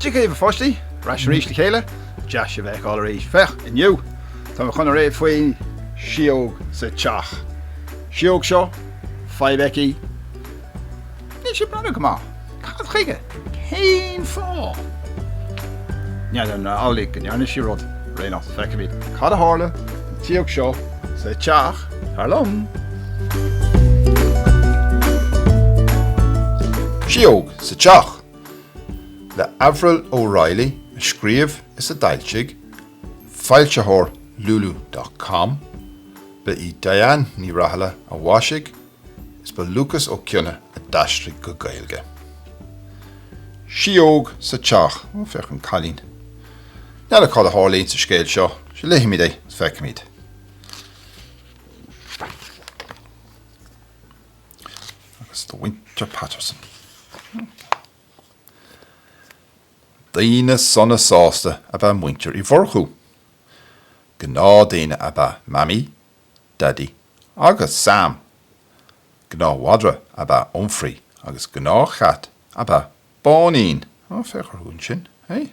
Dia dhaoibh a pháistí, ar ais arís le chéile, deas sibh a fheiceáil arís. Féach, inniu tá mé chun léamh faoin síóg sa teach. Síóg seo, fadhb aici, Níl sí ag breathnú go maith. Cad chuige? Cén fáth? N'fheadar, an amhlaidh go ndearna sí rud, éigin nach bhfeicimid. Cad a tharla don tsíóg seo sa teach thar liom? Síóg sa Teach le Avril O'Reilly a scríobh is a d'fhoilsigh foilsitheoir Lulu.com, ba í Deánn Ní Rathaille a mhaisigh Is ba Lúcas Ó Cionnaith a d'aistrigh go Gaeilge. Síóg sa teach, ó féach an cailín. N'fheadar cad a tharlaíonn sa scéal seo, sea léifimid é is feicfimid. Agus do mhuintir Patterson. Daoine sona sásta ab ea muintir Uí Mhurchú. Gnáthdhaoine ab ea Mamaí, Daidí agus Sam. Gnáthmhadra ab ea Humphrey agus gnáthchat ab ea Báinín. Ó, féach orthu ansin, hé?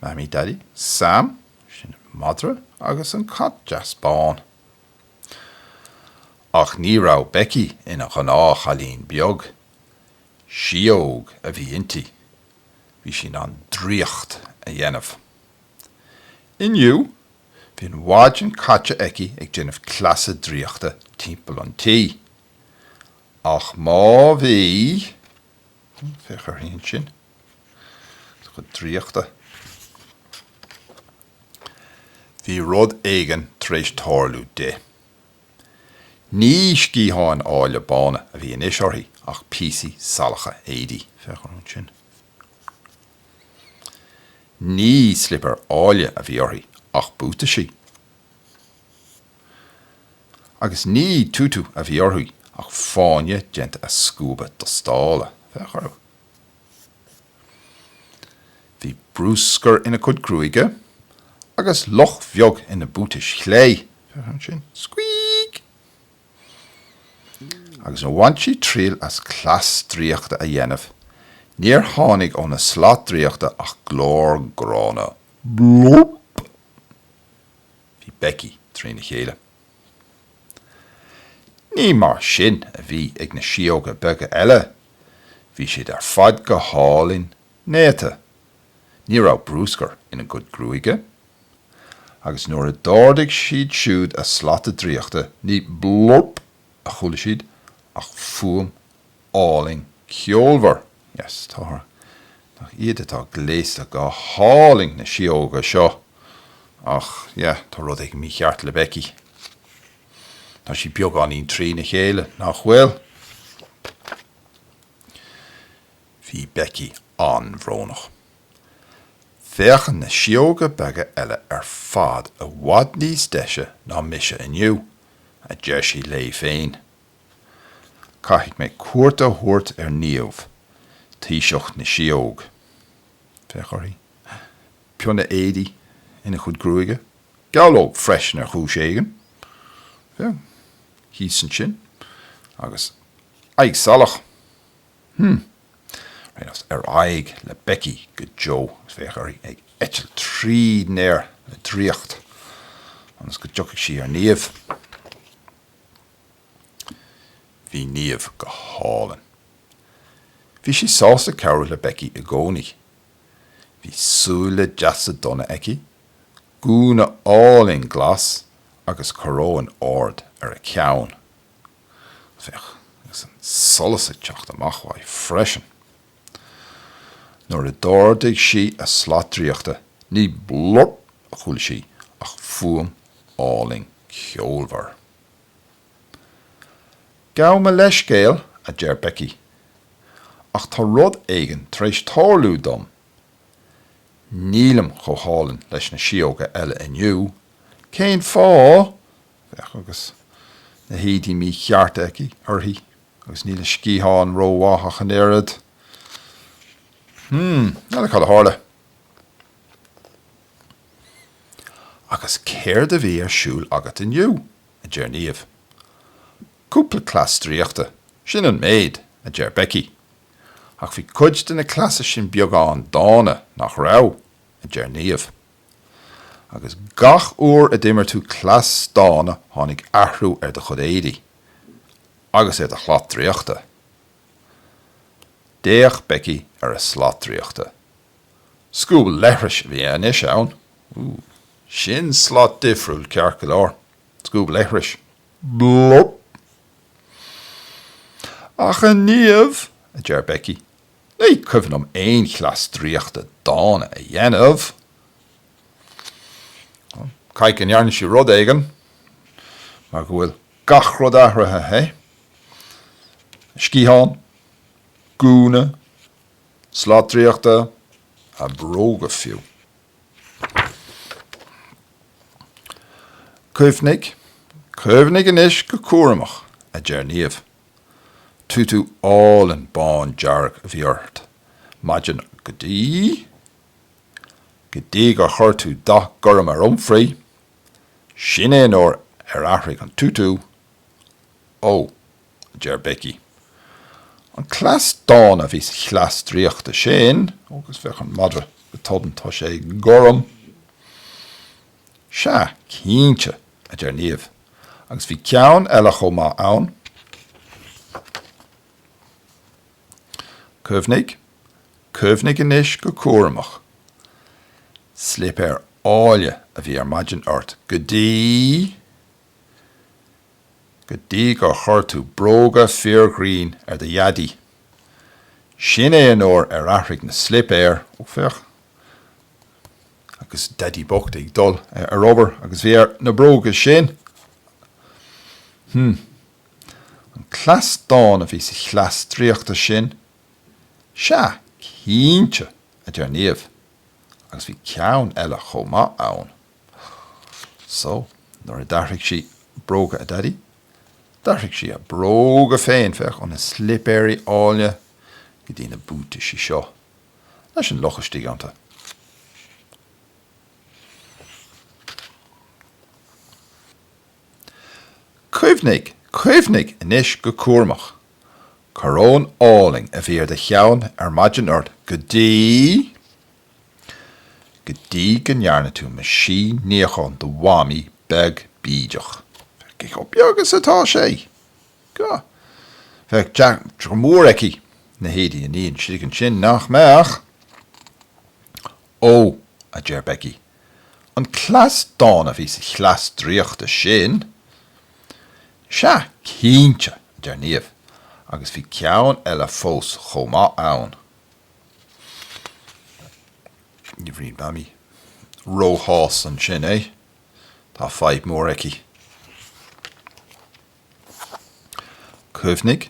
Mamaí Daidí Sam, sin an madra agus an cat deas bán. Ach ní raibh Becky ina gnáthchailín beag. Síóg a bhí inti. Bhí sí in ann draíocht a dhéanamh. Inniu, Bhí an mhaidin caite aici ag déanamh cleasa draíochta timpeall an tí. Ach má bhí. Féach uirthi ansin. Is a cuid draíochta. Bhí rud éigin tar éis tarlú di. Ní sciatháin áille bána a bhí anois uirthi ach píosaí salacha éadaí. Féach uirthi ansin. Ní slipéir áille a bhí uirthi ach buataisí. Agus ní tutu a bhí uirthi ach fáinne déanta as scuaba dustála, féach orthu. Bhí bruscar ina cuid gruaige agus luch bheag ina buatais chlé, féach ansin, squeak! Agus nuair a bhain sí triail as cleas draíochta a dhéanamh, níor tháinig óna slat draíochta ach glór gránna, Blop! Bhí Becky trína chéile. Ní mar sin a bhí ag na síóga beaga eile. Bhí siad ar fad go hálainn néata. Ní raibh brúscar ina gcuid gruaige, agus nuair a d'ardaigh siad siúd a slata draíochta ní 'blurp' a chuala siad ach fuaim álainn ceolmhar. Yes, tá. Nach iad atá gléasta go hálainn, na síóga seo! Ach yeah, tá rud éigin mícheart le Becky. Tá sí beagáinín trína chéile, nach bhfuil? Bhí Becky an-bhrónach. Féachann na síóga beaga eile ar fad i bhfad níos deise ná mise inniu, a deir sí léi féin. Caithfidh mé cuairt a thabhairt ar Niamh, taoiseach na síóg. Féach uirthi. Pionna éadaí ina cuid gruaige. Gabhlóg freisin ar chúis éigin. Féach, thíos ansin. Agus aghaidh salach. Hm. Féach anois ar aghaidh le Becky go deo féach uirthi ag eitilt tríd an aer le draíocht ionas go dtiocfadh sí ar Niamh. Bhí Niamh go hálainn. Bhí sí sásta cabhrú le Becky i gcónaí. Bhí súile deasa donna aici, gúna álainn glas agus coróin ard ar a ceann. Féach, agus an solas ag teacht amach uaidh freisin. Nuair a d'ardaigh sí a slat draíochta, ní blurp a chuala sí ach fuaim álainn ceolmhar. Gabh mo leithscéal, a deir Becky, ach tá rud éigin tar éis tarlú dom. Nílim chomh hálainn leis na síóga eile inniu. Cén fáth? Féach, agus na héadaí míchearta aici, uirthi, agus níl a sciatháin rómhaith ach an oiread. Hmm, n'fheadar cad a tharla? Agus céard a bhí ar siúl agat inniu? a deir Niamh. Cúpla cleas draíochta, sin an méid, a deir Becky. Ach bhí cuid de na cleasa sin beagán dána, nach raibh? a deir Niamh. Agus gach uair a d'imir tú cleas dána tháinig athrú ar do chuid éadaí. Agus ar do shlat draíochta. D'fhéach Becky ar a slat draíochta. Scuab leithris a bhí anois ann. Ooh. Sin slat difriúil ceart go leor. Scuab leithris. Blop! Ach a Niamh, a deir Becky, Ní cuimhin liom aon chleas draíochta dána a dhéanamh. Caithfidh go ndearna sí rud éigin, mar go bhfuil gach rud athraithe, hé? Sciatháin, gúna, slat draíochta, a bróga fiú. Cuimhnigh, cuimhnigh anois go cúramach, a deir Niamh. Tutu álainn bándearg a bhí ort maidin go dtí go dtí gur chuir tú dath gorm ar Humphrey, sin é an uair ar athraigh an tutu. Ó, a deir Becky, an cleas dána a bhí sa chleas draíochta sin, ó agus bhí an madra go tobann, tá sé gorm. Sea, cinnte, a deir Niamh. Agus bhí ceann eile chomh maith ann, cuimhnigh, cuimhnigh anois go cúramach, slipéir áille a bhí ar maidin ort go dtí, go dtí gur chuir tú bróga fíorghrinn ar do dhaidí. Sin é an uair ar athraigh na slipéir, ó féach, Agus Daidí bocht ag dul ar obair agus bhí air na bróga sin. Hm. An cleas dána a bhí sa chleas draíochta sin? Sea, cinnte, a deir Niamh, agus bhí ceann eile chomh maith ann. So, nuair a d'athraigh sí bróga a Daidí, d'athraigh sí a bróga féin, féach, óna slipéirí áilne go dtí na buataisí seo. leis an luch istigh iontu. Cuimhnigh, cuimhnigh anois go cúramach. Coróin álainn a bhí ar do cheann ar maidin ort go dtí. go dtí go ndearna tú meaisín níocháin do mhamaí beag bídeach. Féach chomh beag is atá sé! Ga, Bheadh deacracht mhór aici na héadaí a ní istigh ansin, nach mbeadh? Ó, a deir Becky, an cleas dána a bhí sa chleas draíochta sin! Sea, cinnte, a deir Niamh, agus bhí ceann eile fós chomh maith ann. Ní bheidh Mamaí róshásta ansin, eh? Tá fadhb mhór aici. Cuimhnigh,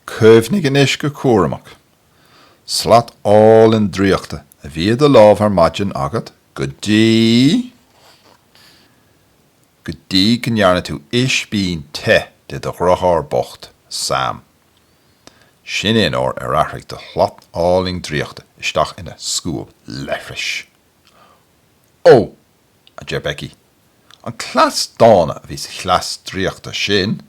cuimhnigh anois go cúramach. Slat álainn draíochta a bhí i do lámh ar maidin agat go dtí. go dtí go ndearna tú ispín te de do dheartháir bocht, Sam. Sin é an uair ar athraigh do shlat álainn draíochta isteach ina scuab leithris. Ó! a deir Becky. An cleas dána a bhí sa chleas draíochta sin?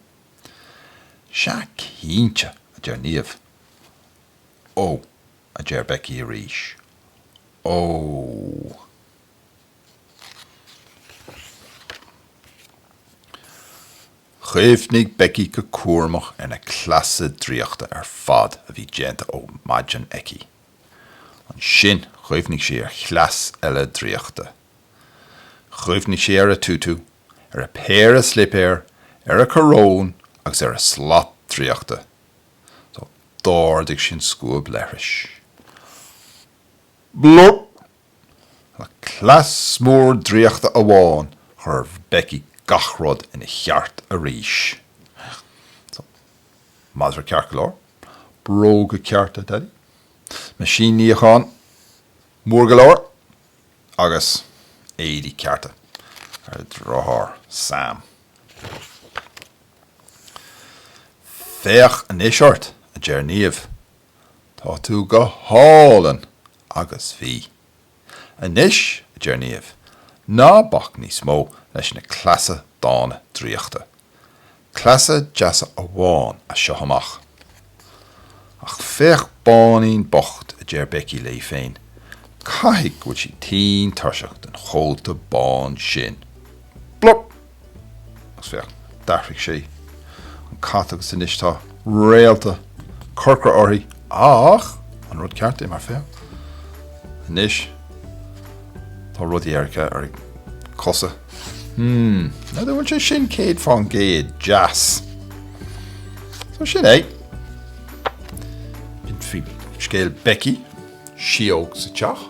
Sea cinnte, a deir Niamh. Ó, a deir Becky arís. Ó. Chuimhnigh Becky go cúramach ar na cleasa draíochta ar fad a bhí déanta ó mhaidin aici. Ansin chuimhnigh sí ar chleas eile draíochta. Chuimhnigh sí ar a tutu, ar a péire slipéar, ar a coróin agus ar a slat draíochta. So d'ardaigh sí an scuab leithris. Blurp! Le cleas mór draíochta amháin chuir Becky gach rud ina cheart arís. So. Madra ceart go leor. Bróga cearta Daidí. Meaisín níocháin mór go leor. Agus éadaí cearta ar a deartháir Sam. Féach anois ort, a deir Niamh. Tá tú go hálainn! Agus bhí. Anois, a deir Niamh, ná bac níos mó leis na cleasa dána draíochta. Cleasa deasa amháin as seo amach. Ach féach Báinín bocht, a deir Becky léi féin, caithfidh go bhfuil sí tinn tuirseach den chóta bán sin. Blup! Agus féach, d'athraigh sí an cat agus anois tá réalta corcra uirthi! Ach an é an rud ceart é, mar féach, anois tá rudaí dearga ar a cosa. Hmm, níl a fhios agam an bhfuil sé sin céad fán gcéad deas. So sin é. Sin é scéal Becky síog sa teach.